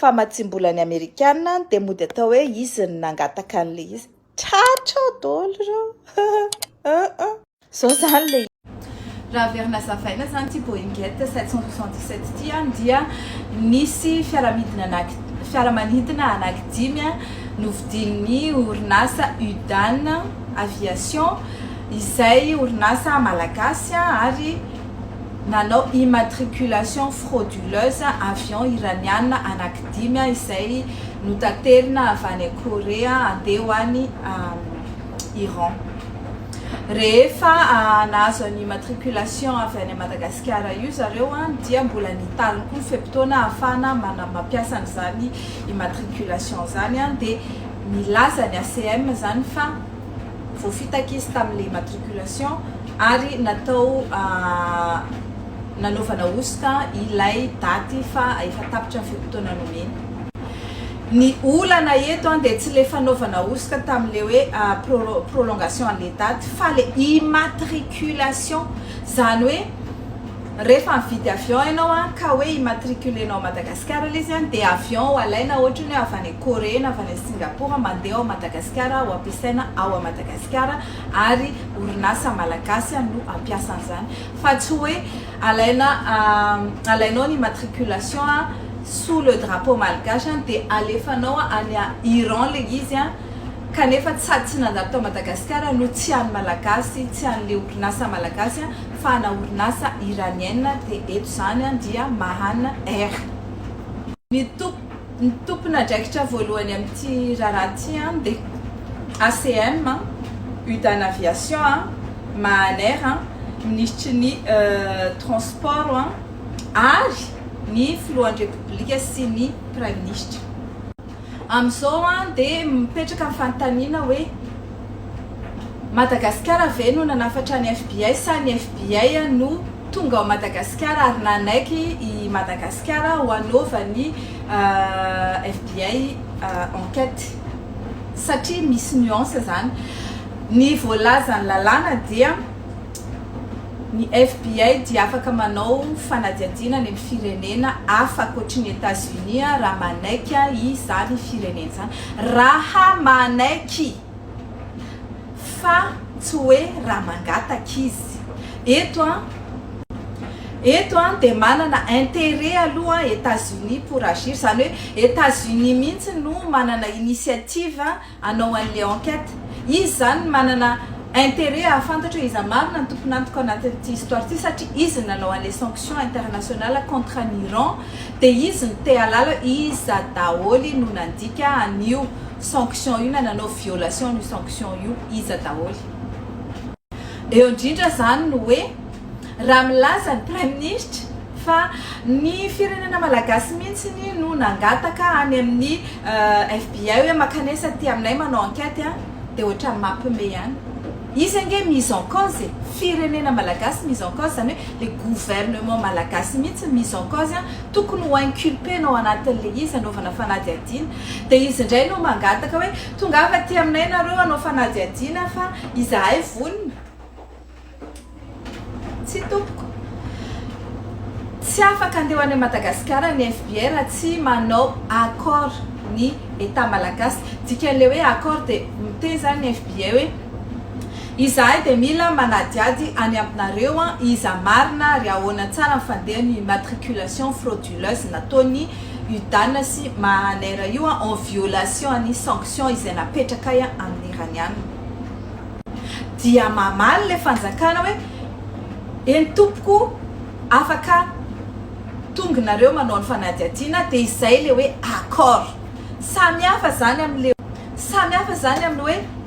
Famatsiam-bolan'ny Amerikana dia mody atao hoe izy no nangataka an'ilay izy. Tratra ao daholo ireo. Izao izany ilay izy. Raha averina hazavaina izany ity Boeing Jet 777 ity dia nisy fiaramanidina anankidimy novidian'ny orinasa Udan Aviation izay orinasa malagasy ary nanao immatriculation frauduleuse avion iraniana anaky dimy izay notaterina avy any Korea handeha ho any Iran. Rehefa nahazo an'io immatriculation avy any Madagasikara io zareo dia mbola nitaly koa ny fe-potoana ahafahana mampiasa an'izany immatriculation izany dia nilaza ny ACM izany fa voafitaka izy tamin'ilay matriculation ary natao nanaovana hosoka ilay daty fa efa tapitra ny fe-potoana nomeny. Ny olana eto dia tsy ilay fanaovana hosoka tamin'ilay hoe prolongation an'ilay daty fa ilay immatriculation, izany hoe. Rehefa mividy avion ianao an, ka hoe immatriculer nao ao Madagascar ilay izy an, dia avion ho alaina ohatra hoe avy any Corée na avy any Singapour mandeha ao Madagascar ho ampiasaina ao a Madagascar ary orinasa Malagasy no hampiasa an'izany fa tsy hoe alaina alainao ny immatriculation an sous le drapeau malgache an dia alefanao any a Iran ilay izy an, kanefa tsy sady tsy nandalo tao Madagasikara no tsy an'ny Malagasy, tsy an'le orinasa Malagasy fa ana orinasa Iranienne de eto zany dia Mahan Air. Ny ny tompon'adraikitra voalohany amin'ity raharaha ity dia ACM, Udan Aviation, Mahan Air, minisitry ny transport ary ny filohan'ny Repoblika sy ny praiminisitra. Amin'izao an dia mipetraka ny fanontaniana hoe Madagasikara ve no nanafatra ny FBI sa ny FBI no tonga ao Madagasikara ary nanaiky i Madagasikara ho anaovan'ny FBI enquête? Satria misy nuance izany. Ny voalazan'ny lalàna dia. Ny FBI dia afaka manao fanadihadiana any amin'ny firenena hafa ankoatry ny Etazonia raha manaiky izany firenena izany. Raha manaiky! Fa tsy hoe raha mangataka izy. Eto, eto dia manana intérêt aloha Etazonia pour agir. Izany hoe Etazonia mihitsy no manana initiative. anao anle enquête? Izy zany manana interet ahafantatra hoe iza marina ny tompon'antoka ao anatin'ity histoire ity satria izy no nanao anle sanction internationale contre an'i Iran dia izy no te halala hoe iza daholy no nandika an'io sanction io na nanao violation an'io sanction io iza daholy. Eo indrindra zany no hoe raha milaza ny praiminisitra Fa ny firenena malagasy mihintsiny no nangataka any amin'ny FBI hoe makanesa aty aminay manao enquête a! Dia ohatrany mapme ihany. Izy ange mise en cause e! Firenena malagasy mise en cause izany hoe le gouvernement malagasy mihintsy mise en cause a! Tokony ho inculpena ao anatin'ilay izy anaovana fanadihadiana. Dia izy indray no mangataka hoe tongava aty aminay nareo hanao fanadihadiana fa izahay vonona. Tsia tompoko. Tsy afaka handeha any Madagasikara ny FBI raha tsy manao accord ny Etat Malagasy. Dikan'ilay hoe accord dia miteny izany ny FBI hoe izahay dia mila manadihady any aminareo iza marina ary ahoana tsara ny fandehan' io immatriculation frauduleuse nataon'ny UDAN sy Mahanair io en violation ny sanctions izay napetrakay amin'ny Iraniana. dia mamaly ilay fanjakana hoe, Eny tompoko afaka tonga nareo manao ny fanadihadiana dia izay ilay hoe accord. Samy hafa izany amin'ilay samy hafa izany amin'ny hoe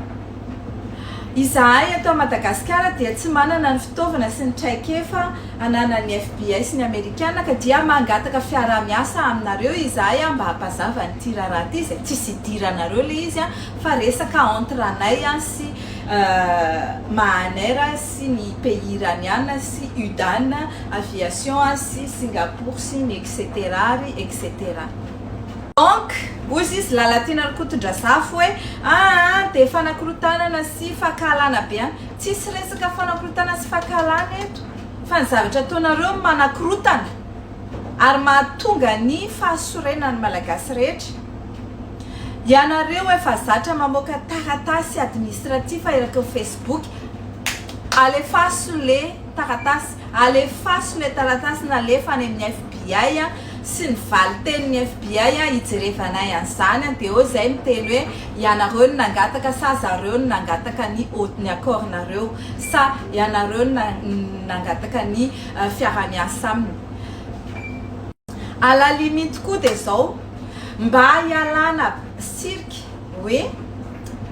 izahay eto Madagasikara dia tsy manana ny fitaovana sy ny traikefa ananan'ny FBI sy ny Amerikana ka dia mangataka fiaraha-miasa aminareo izahay mba hampazava an'ity raharaha ity izay tsisy idiranareo ilay izy Fa resaka entre anay sy Mahanair sy ny pays iraniana sy Udan aviation sy Singapour sy ny etc ary etc. Donc, hozy izy Lalatiana Rakotondrazafy hoe, aa dia fanakorotanana sy fankahalana be any. Tsisy resaka fanakorotana sy fankahalana eto fa ny zavatra ataonareo no manakorotana ary mahatonga ny fahasorenan'ny Malagasy rehetra. Ianareo efa zatra mamoaka taratasy administratif erak'eo facebook alefaso le taratasy alefaso le taratasy nalefa any amin'ny FBI a sy ny valitenin'ny FBI a hijerevanay an'izany a dia eo zay miteny hoe ianareo no nangataka sa zareo no nangataka ny ny accord nareo sa ianareo no nangataka ny fiarahamiasa aminy A la limite koa dia izao, mba hialana cirque hoe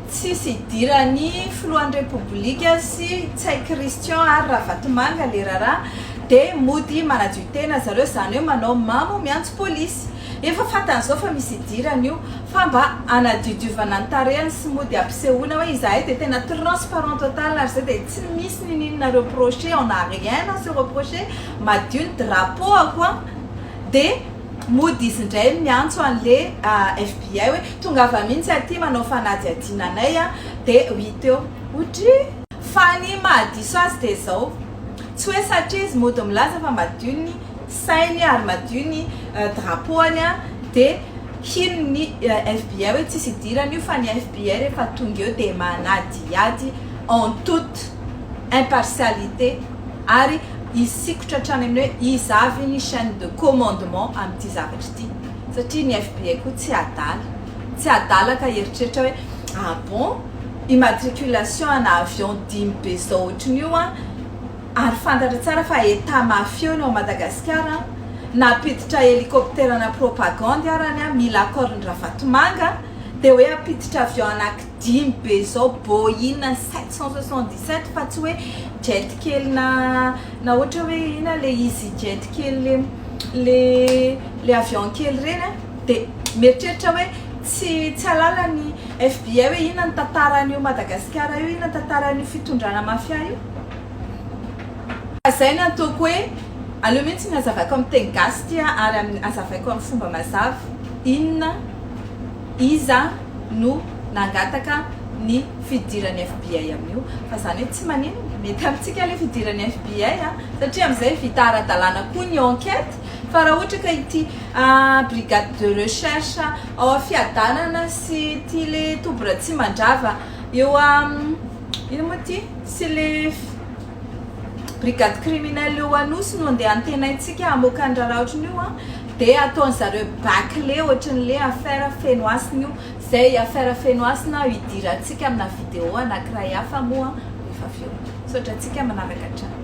tsisy hidiran'ny filohan'ny Repoblika sy Ntsay Christian ary Ravatomanga le raharaha dia mody manadio tena zareo izany hoe manao mamo miantso polisy. Efa fantany izao fa misy hidirany io fa mba hanadiodiovana ny tarehiny sy mody hampisehoana hoe izahay dia tena transparent total ary izay dia tsy misy niniana reprocher, on n'a rien à se reprocher, madio ny drapeau-ako an! dia mody izy indray miantso an'le FBI hoe tongava mihintsy aty manao fanadihadiana anay an! dia huit eo otry Fa ny mahadiso azy dia izao, tsy hoe satria izy mody milaza fa madio ny sainy ary madio ny drapeau-any an! dia hino ny FBI hoe tsisy idirany io fa ny FBI rehefa tonga eo dia manadihady en toute impartialité ary Hisikotra hatrany amin'ny hoe iza avy ny chaine de commandement amin'ity zavatra ity satria ny FBI koa tsy adala. Tsy adala ka hieritreritra hoe ah bon, immatriculation ana avion dimy be zao ohatrin'io an, ary fantatra tsara fa Etat mafieux ny ao Madagasikara an, nampiditra helicoptera ana propagandy arany an, mila accord-n'i Ravatomanga, dia hoe hampiditra avion ana dimy be zao Boeing sept cent soixante dix sept fa tsy hoe jet kely na na ohatra hoe ina le easy jet kely le le le avion kely ireny a de mieritreritra hoe tsy tsy halala ny FBI hoe ina ny tantaran'io Madagasikara io ina ny tantaran'io fitondrana mafia io fa zay ny antoko hoe aleo mihitsy ny azavaiko amin'ny teny gasy ty a ary azavaiko amin'ny fomba mazava inona Iza no nangataka ny fidiran'ny FBI amin'io? Fa izany hoe tsy maninona, mety amintsika ilay fidiran'ny FBI an! Satria amin'izay vita ara-dalàna koa ny enquête, fa raha ohatra ka ity brigade de recherche ao Fiadanana sy ity le toby Ratsimandrava eo inona moa ity? sy le brigade criminelle eo Anosy no andeha antenaintsika hamoaka ny raharaha ohatran'io an! Dia ataony zareo baclé otriny le affaire Fenohasina io zay i affaire Fenohasina aho hidirantsika amina vidéo anakiray hafa moa rehefa avy eo. Misaotra antsika manaraka hatrany.